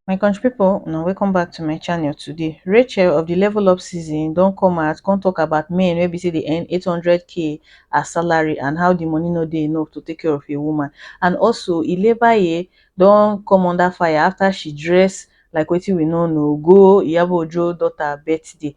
my country people, una welcome back to my channel today rachel of the level up season don't come out come talk about men Maybe say they earn 800k as salary and how the money no dey enough to take care of a woman and also ilebaye don't come under fire after she dress like wetin we no know go iyabo ojo daughter birthday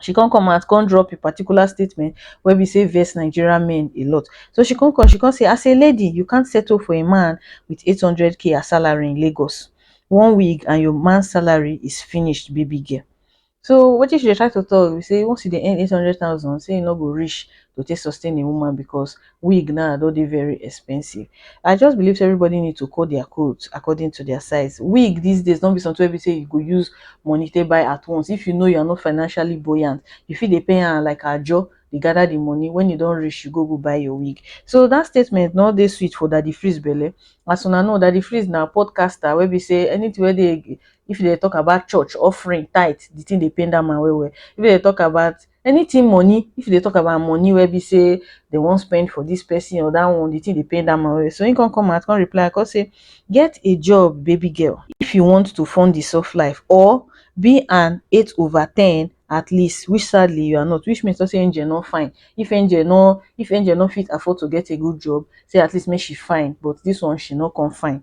she come come out come drop a particular statement wey be sey vex Nigeria men a lot. So she come come, she come say as a lady you can't settle for a man with eight hundred k as salary in Lagos, one wig and your man salary is finished baby girl. So wetin she dey try to talk be sey once you dey earn eight hundred thousand sey e no go reach to take sustain a woman because wig now don dey very expensive I just believe say everybody need to cut their coat according to their size wig this days no be something wey be say you go use money take buy at once if you know you are not financially buoyant you fit dey pay am like ajo dey gather the money when e don reach you go go buy your wig so that statement no dey sweet for Daddy Freeze belle as una know Daddy Freeze na podcaster wey be say anything wey dey if dem dey talk about church offering tithe the thing dey pain that man well well if dem dey talk about Anything money, if you dey talk about money wey be sey dem wan spend for this person or that one, the thing dey pain that man well well. So him come come out come reply come say, get a job baby girl if you want to fund the soft life or be an eight over ten at least which sadly you are not which means to talk say angel no fine if angel no if angel no fit afford to get a good job say at least make she fine but this one she no come fine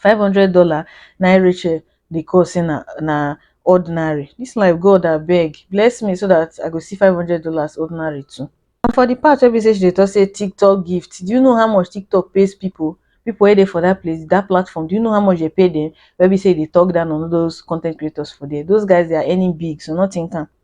five hundred dollar na him rachel dey call say na na ordinary this life God abeg bless me so that I go see five hundred dollars ordinary too and for the part wey be say she dey talk say tiktok gift do you know how much tiktok pays people people wey dey for that place that platform do you know how much they pay them wey be say e dey talk down on all those content creators for there those guys they are earning big so no think am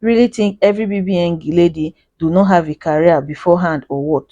really think every bbn lady do no have a career before hand or what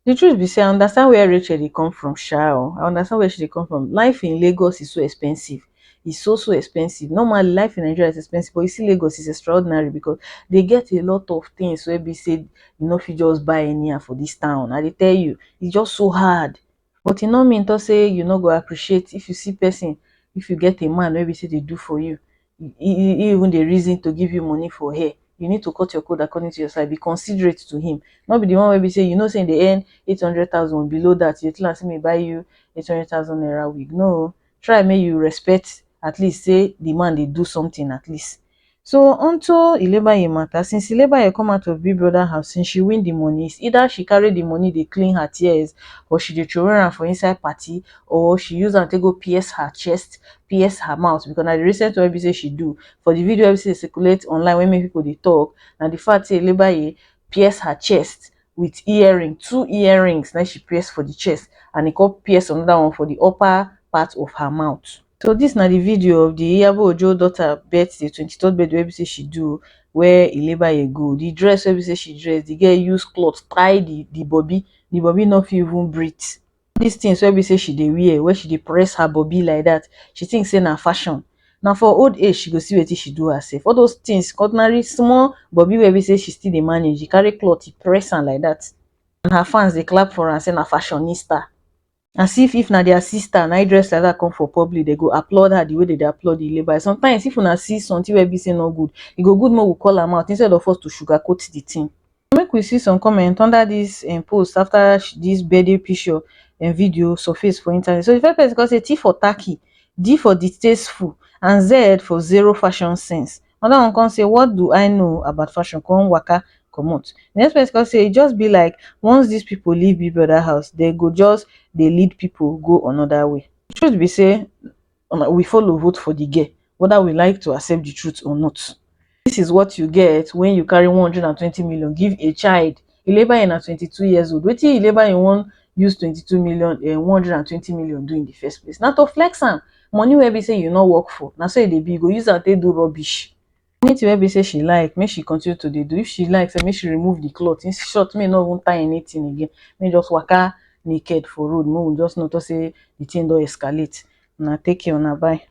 the truth be say i understand where Rachel dey come from sha o i understand where she dey come from life in Lagos is so expensive is so so expensive normally life in Nigeria is expensive but you see Lagos is extraordinary because they get a lot of things wey be say you no fit just buy anyhow for this town i dey tell you is just so hard but e no mean talk say you no go appreciate if you see person if you get a man wey be say dey do for you e e even dey reason to give you money for hair you need to cut your coat according to your size be considerate to him no be the one wey be say you know say him dey earn eight hundred thousand below that you dey tell am say make e buy you eight hundred thousand naira wig no o try make you respect at least say the man dey do something at least so unto ilebaye matter since ilebaye come out of big brother house since she win the money is either she carry the money dey clean her tears or she dey throway am for inside party or she use am take go pierce her chest pierce her mouth because na the recent one wey be say she do for the video wey be say dey circulate online wey make people dey talk na the fact say ilebaye pierce her chest with earring two earrings na im she pierce for the chest and e come pierce another one for the upper part of her mouth So dis na di video of di Iyabo Ojo daughter birthday, twenty third birthday wey be say she do where e labour e go. Di dress wey be say she dress, di girl use cloth tie di di bobi, di bobi no fit even breath. Dis things wey be say she dey wear, wey she dey press her bobi like dat, she think say na fashion. Na for old age she go see wetin she do herself. All those things, ordinary small bobi wey be say she still dey manage, e carry cloth e press am like dat and her fans dey clap for am say na fashionista. as if if na their sister na dress like that come for public dem go applaud her the way dem dey applaud the labour sometimes if una see something wey be say e no good e go good make we call am out instead of us to sugar coat the thing make we see some comment under this um post after this birthday picture um video surface for internet so the first person come say T for tacky D for distasteful and Z for zero fashion sense Another one come say what do I know about fashion come waka comot. The next person come say e just be like once this people leave Big Brother house they go just dey lead people go another way. The truth be say we follow vote for the girl whether we like to accept the truth or not. This is what you get when you carry one hundred and twenty million give a child. e labour in na twenty two years old wetin e labour in wan use twenty two million um one hundred and twenty million do in the first place na to flex am money wey be say you no work for na so e dey be you go use am take do rubbish anything wey be say she like make she continue to dey do if she like sef make she remove the cloth in short make e no even tie anything again make e just waka naked for road make we just know talk say the thing don escalate una take care una bye.